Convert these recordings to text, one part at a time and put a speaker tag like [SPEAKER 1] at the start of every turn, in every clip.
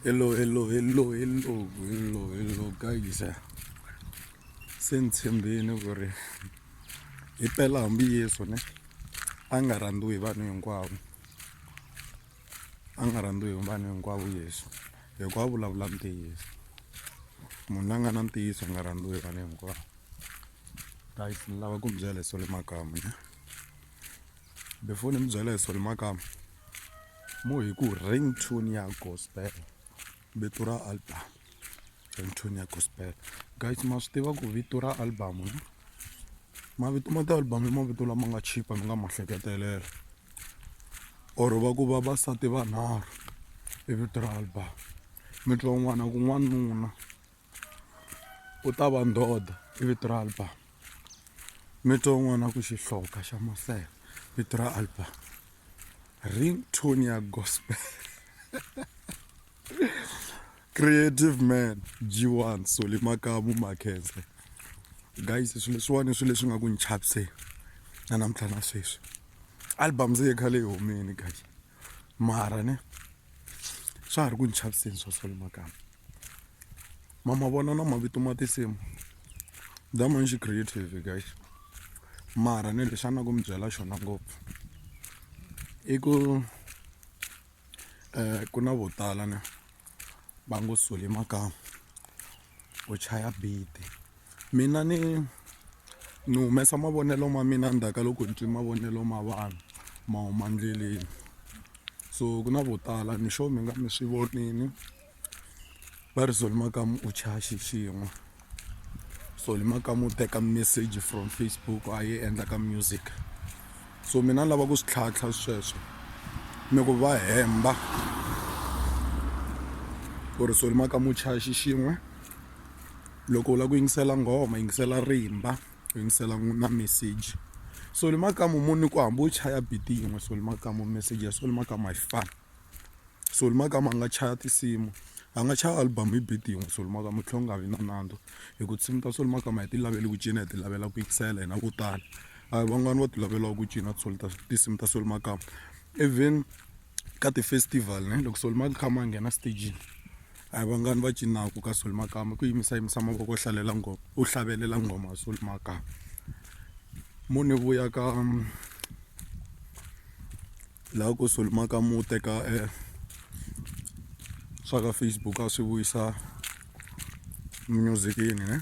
[SPEAKER 1] Hello, hello, hello, hello, hello, hello guys. Se ni tshembini ku ri hi pela hambi Yesu ne a nga rhandziwi hi vanhu hinkwavo. A nga rhandziwi hi vanhu hinkwavo Yesu hikuva a vulavula ntiyiso. Munhu la nga na ntiyiso a nga rhandziwi hi vanhu hinkwavo. Guys ni lava ku mi byela hi Solly Makamu ne. Before ni mi byela hi Solly Makamu. mo hi ku ring tune ya gospel vito ra album ring tune ya gospel guys ma swi tiva ku vito ra album no mavito ma ti-album i mavito lama nga chipa mi nga ma hleketelela or va ku vavasati vanharhu i vito ra album mi twa un'wana ku n'wanuna u ta va ndhodha i vito ra album mi twa un'wana ku xihloka xa masela vito ra album ring tone ya gospel creative man g1 soli makamu makhense guys swilo leswiwani i swilo leswi nga ku ni chaviseni na namuntlha na sweswi album se yi khale yi humile guys mara ne swa ha ri ku ni chaviseni swa soli makamu ma ma vona na mavito ma tinsimu that means creative guys mara ni lexi a ni lava ku mi byela xona ngopfu i ku ku na vo tala ni va ngo sole makamu u chaya beat mina ni ni humesa mavonelo ma mina ndzhaku ka loko ni twi mavonelo ma vanhu ma huma endleleni so ku na vo tala ni sure mi nga mi swi vonile. va ri Solly Makamu u chaya xixin'we Solly Makamu u teka message from Facebook a yi endla ka music so mina ni lava ku swi tlhantlha sweswo ni ku va hemba ku ri Solly Makamu u chaya xixin'we loko u lava ku yingisela nghoma yingisela rimba u yingisela na message Solly Makamu munhu ni ku hambi u chaya beat yin'we Solly Makamu message ya Solly Makamu a yi fani. so ni mhaka ya ku a nga chaya tinsimu a nga chaya album hi beat yin'we so ni mhaka mi tlhela mi nga vi na nandzu hi ku tinsimu ta so ni mhaka ma hi ti lavela ku cina hi ti lavela ku yingisela hina vo tala a hi van'wani vo ti lavela ku cina tinsimu ta so ni mhaka even ka ti-festival ne loko so ni mhaka kha ma nghena stagini a hi vangani va cinaka ka so ni mhaka i ku yimisa yimisa mavoko u hlalela nghoma u hlavelela nghoma so ni mhaka mo ni vuya ka. laha kusuhi mhaka mu teka e swa ka Facebook a swi vuyisa music yini ne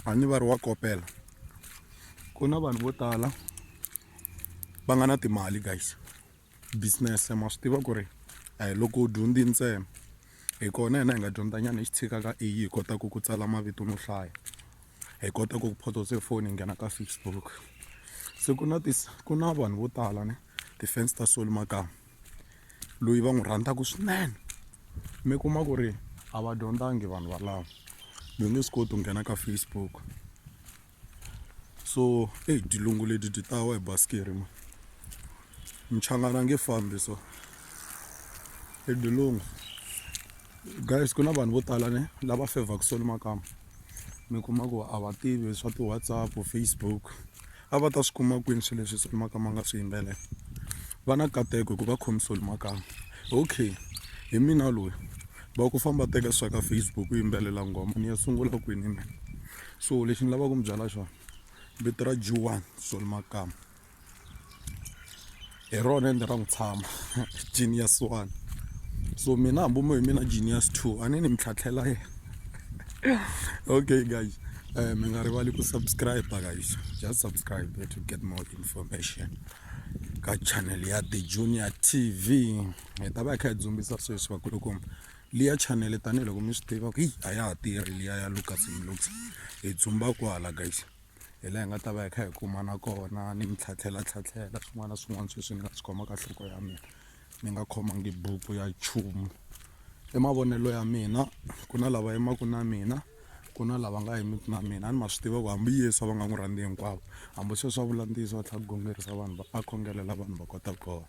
[SPEAKER 1] a ni va ri wa kopela ku na vanhu vo tala va nga na timali guys business ma swi tiva ku ri a hi loko u dyondzi ntsena hi kona hina hi nga dyondza nyana hi xi tshika ka A_I hi kotaku ku tsala mavito no hlaya hi kota ku photose foni hi nghena ka Facebook se ku na ku na vanhu vo tala ne. ti-fans ta Solly Makamu loyi va n'wi rhandzaka swinene mi kuma ku ri a va dyondzangi vanhu valava mi nge swi koti ku nghena ka Facebook so eyi dilungu leti ti tawa hi basikiri ma mchangana nge fambi so i dilungu guys ku na vanhu vo tala ne lava fevhaku Solly Makamu mi kuma ku a va tivi swa ti-WhatsApp Facebook. a va ta swi kuma kwini swilo leswi Solly Makambu a nga swi yimbelela va na nkateko hikuva va khome Solly Makambu okay hi mina loyi va ku famba teka swa ka Facebook u yimbelela nghoma ni ya sungula kwini mina so lexi ni lavaka ku mi byela xona vito ra G1 Solly Makambu hi rona ende ra n'wi tshama genius one so mina hambi mo hi mina genius two a ni ni mi tlhatlhela yena okay guys um mi nga rivali ku subscribe guys just subscribe to get more information ka channel ya the junior tv hi ta va hi kha hi dzumbisa sweswi vakulukumba liya channel tanihiloko mi swi tiva ku yi a ya ha tirhi liya ya lucas mlux hi dzumba kwala guys hi laha hi nga ta va hi kha hi kumana kona ni mi tlhatlhela tlhatlhela swin'wana na swin'wana sweswi ni nga swi khoma ka nhloko ya mina ni nga khomangi buku ya nchumu i mavonelo ya mina ku na lava yimaka na mina ku na lava nga yimiki na mina a ni ma swi tiva ku hambi yesu a va nga n'wi rhandzi hinkwavo hambi sweswi a vula ntiyiso va tlhela ku gongerisa vanhu va a khongelela vanhu va kota ku kona.